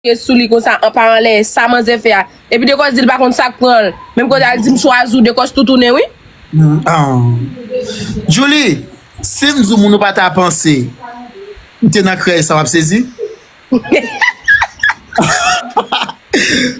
Kriye sou li konsa an pa anlè sa manzè fè a epi dekòs dil pa konn sak pranl menm kote al dim chwazi w dekòs toutoune wi. Aww Djoulie sim diw moun ou pa ta panse ou te nan krèy sa wap sezi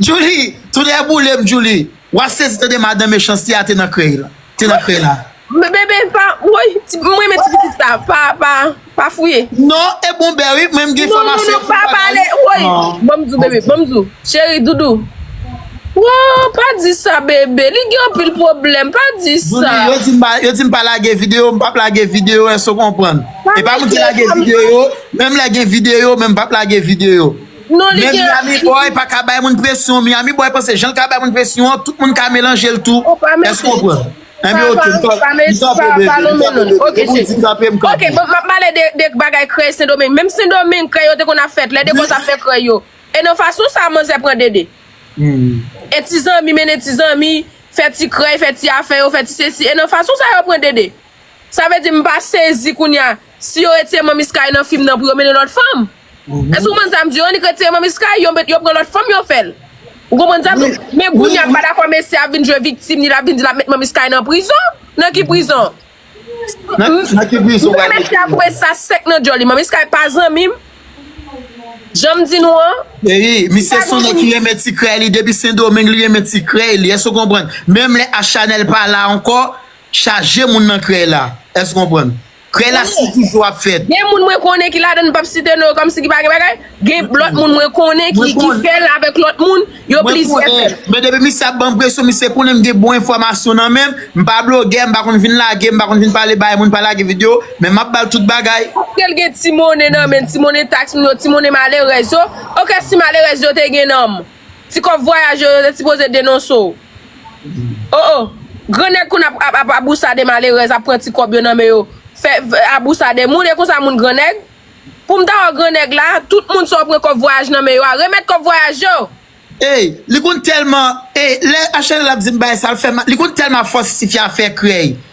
Djoulie tonè boulem Djoulie. Wa sezi tande madan mechanste a te nan krey la te nan krey la. Bebe pa woy m renmen ti pitit sa pa pa pa fouye. Non e bon bè wi mwen m gen fwa mase yon kout bagay woy. Banm di w bebe banm di w cheri doudou. Woo pa di sa bebe li gen anpil pwoblèm pa di sa. Doudou yo di m pa lage video m pap lage video èske w konprann. E pa m di lage video menm lè gen video menm pap lage video. Men Miami boy pa ka bay moun presyon Miami boy panse jan l ka bay moun presyon an tout moun ka melanje l tou èske w konprann Enben ok m kanpe bebe m kanpe bebe depi w di kanpe m kanpe Ok bon m ap pale de bagay krèy sendomeng menm sendomeng krèy yo te konn ap fèt lè dekòz ap fè krèy yo e nan fason sa manzè pran dede e ti zanmi mennen ti zanmi fè ti krèy fè ti afè yo fè ti sesi e nan fason sa yo pran dede sa vle di m pa sezi kounya si yo retire manmi sky nan fim nan pou yo mennen lòt fanm. Èske ou konprann sa m di yo? Annik retire manmi Sky, yo met yo pran lòt fanm yo fè l. Ou konprann sa m di yo? Men Brunie a pa dakò mesye a vin jwe viktim li, l ap vin di l ap met manmi Sky nan prizon. Nan ki prizon? Nan ki prizon ou pral mete l? Ou kwè mesye a koupe sa sèk nan djòl li? Manmi Sky pa zanmi m. Jan m di nou an. Eyi, misye son nèg ki renmen ti krèy li depi Sendomeng li renmen ti krèy li. Èske ou konprann? Menm lè Achanèl pa la ankò, chaje moun nan krèy la. Èske ou konprann? Krèy la si toujou ap fèt. Gen moun mwen konnen ki ladann m pap site non yo kòmsi ki pa gen bagay, gen lòt moun mwen konnen ki fèl avèk lòt moun, yo plizyè fèl. Men depi misye ap banm presyon, misye konnen m gen bon enfòmasyon nan menm, m pa blogè, m pa konn vin lage, m pa konn vin pale bay moun, pa lage video, men map bal tout bagay. Paskel gen ti monnen nan menn, ti monnen tax moun yo, ti monnen malerèz yo, ok si malerèz yo te gen nanm. Ti kòb vwayaj yo yo te sipoze denonse w. Oh oh! Gran nèg konn ap ap abousade malerèz ap pran ti kòb yo nan men yo fè abousade moun e konsa moun gran nèg? Pou m ta wè gran nèg la, tout moun sa w pran kòb vwayaj nan men yo a remèt kòb vwayaj yo! Ey li konn telman ey lè HNL ap di m bay sa l fè mal li konn telman fòs ti fi a fè krèy.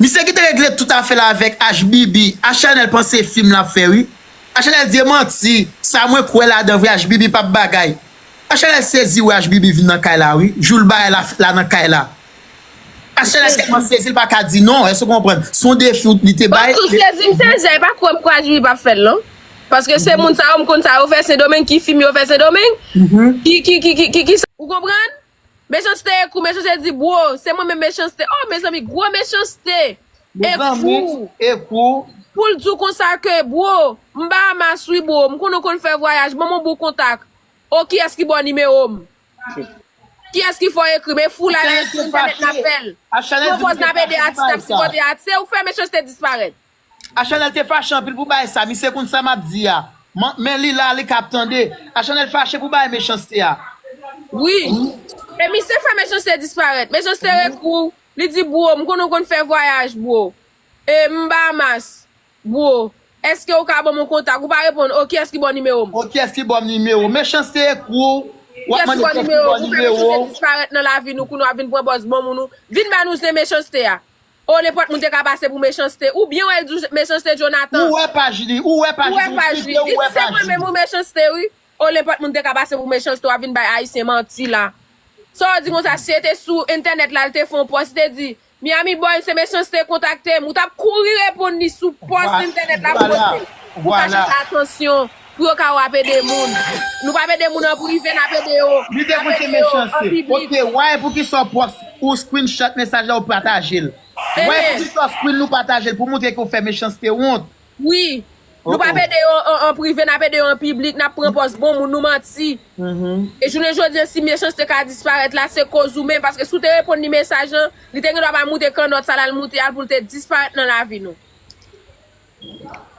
Misye ki te regle tout afè l avèk Ashbibi, Achanel panse fim lap fè wi. Achanel di e manti, sa mwen kwè ladan vre Ashbibi pap bagay. Achanel sezi wè Ashbibi vin nan kay la wi, jou l bay la la nan kay la. Achanel tèlman sezi l paka di non, èske w konprann, s on defi w li te bay. Mwen tou sezi m sezi, e pa kwè m kwè Ashbibi pap fè l non. Paske se moun sa yo m konn sa yo fè sendomeng, ki fim yo fè sendomeng, ki ki ki ki ki sa, ou konprann, Mechanste ekou mechanste di bro se mwen menm mechanste oh mezanmi gro mechanste mezanmi ekou poul diw konsa ke bro m Bahamas wi bro m konnen w konn fè vwayaj banm yon bon kontak oh kiyès ki baw nimewo m kiyès ki fè w ekri m e fou la lè se entènèt nap fèl pwopòz nap ede atis nap sipòte atis e ou k fè mechanste disparèt. A chanel te fache anpil pou bay sa misye konn sa map di a men li la li kap tande a chanel fache pou bay mechanste a. Wi E misye fè mechanste disparèt mechanste rekrou li di bro m konnen w konn fè vwayaj bro e m Bahamas bro eske ou ka banm yon kontak ou pa reponn oh kiyès ki ba w nimewo m. Oh kiyès ki ba w nimewo m mechanste ekrou wap mande kiyès ki ba w nimewo w. Kiyès ki ba w nimewo m ou fè mechanste disparèt nan lavi nou kounye w ap vin pran pòz bon moun ou vin ba nou zen mechanste a. Oh nenpòt moun te ka pase pou mechanste ou byen wèl di mechanste Jonathan. Ou wè paj li, ou wè paj li, ou klike ou wè paj li. Li di se mwen menm ou mechanste wi. Oh nenpòt moun te ka pase pou mechanste wap vin bay ayisyen manti la. Saw di konsa si se te sou entènèt la li te fè yon pòs li te di Miami boy se mechanste kontaktem ou tap kouri reponn li sou pòs entènèt la pou poste l pou ka chache atansyon Pou yo ka wap ede moun. Nou pap ede moun an prive nap ede yo. Li te pouse mechanste. Ok why poukisa ou props ou screenshot mesaj la ou patajel. Why poukisa ou screen nou patajel pou moutre ke ou fè mechanste wont. Wi. Nou pap ede yo an prive nap ede yo an piblik nap pran pòz bon moun nou manti. E jounen jodi si mechanste ka disparèt la se koz ou menm paske si ou te reponn li mesaj lan li te gendwa pa moute kannòt sa lal moute a poul te disparèt nan lavi nou.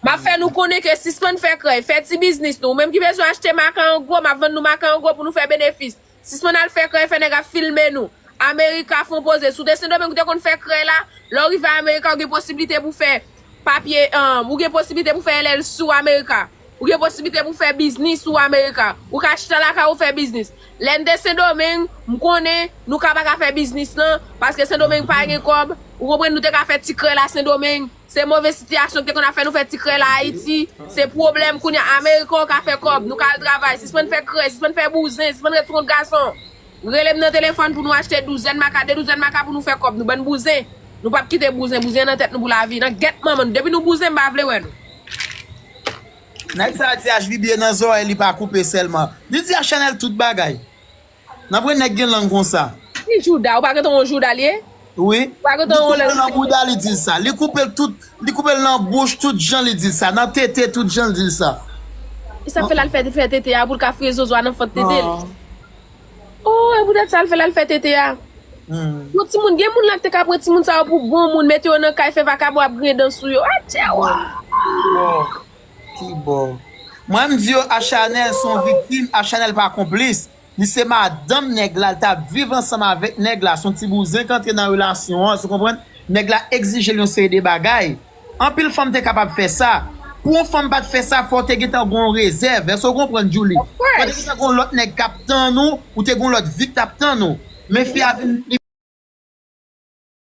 Map fè nou konnen ke sispann fè krèy, fè ti biznis nou. Ou menm ki bezwen achte makan an gwo, map vann nou makan an gwo pou nou fè benefis. Sispann al fè krèy, fè nèg ap filme nou. America fon poze. Si w te Sendomeng ou te konn fè krèy la, lè w rive America ou gen posiblite pou fè papye ou gen posiblite pou fè LLC ou America. Ou gen posiblite pou fè biznis ou America. Ou ka chita lakay ou fè biznis. Lè n te Sendomeng, m konnen nou ka pa ka fè biznis lan, paske Sendomeng pa gen kòb, ou konprann nou te ka fè ti krèy la Sendomeng, Se move sitiyasyon ki te konn ap fè nou fè ti krè la Ayiti. Se pwoblèm kounye a. Ameriken ou ka fè kòb, nou ka al travay. Sispann fè krè, sispann fè bouzen, sispann ret sou kont gason. Rele m nan telefòn pou nou achte douzèn maka, de douzèn maka pou nou fè kòb nou. Bann bouzen. Nou pap kite bouzen. Bouzen nan tèt nou pou lavi. Nan gèt manman nou. Depi nou bouzen m pa vle wè nou. Nèg sa di HBBA nan zòrèy li pa koupe sèlman. Li di a Chanel tout bagay. Nan pre neg gen lang konsa. Ki jouda ou pa gentan yon jouda li ye? Wi li koupe l nan bouda li dil sa li koupe l tout li koupe l nan bouch tout jan li dil sa nan tete tout jan l dil sa. Esak fè lal fè tete a poul ka fre zozo a nan fant tete l ooh epoutet sa l fè lal fè tete a yon timoun gen moun la kte ka pran timoun sa yo pou bon moun mete yo nan kay fè vakabon ap griyen dan sou yo atchewoo. Kibò Mwen m di yo a chanel son viktim a chanel pa konplis li se madanm nèg la li tap viv ansanm avèk nèg la son ti bouzen ki antre nan relasyon an ou konprann nèg la egzije l yon seri de bagay anpil fanm te kapab fè sa pou yon fanm pat fè sa fò te gentan gon rezèv èske ou konprann Djoulie fò te gentan gon lòt nèg kap tann ou ou te gon lòt vi k tap tann ou men fi a vin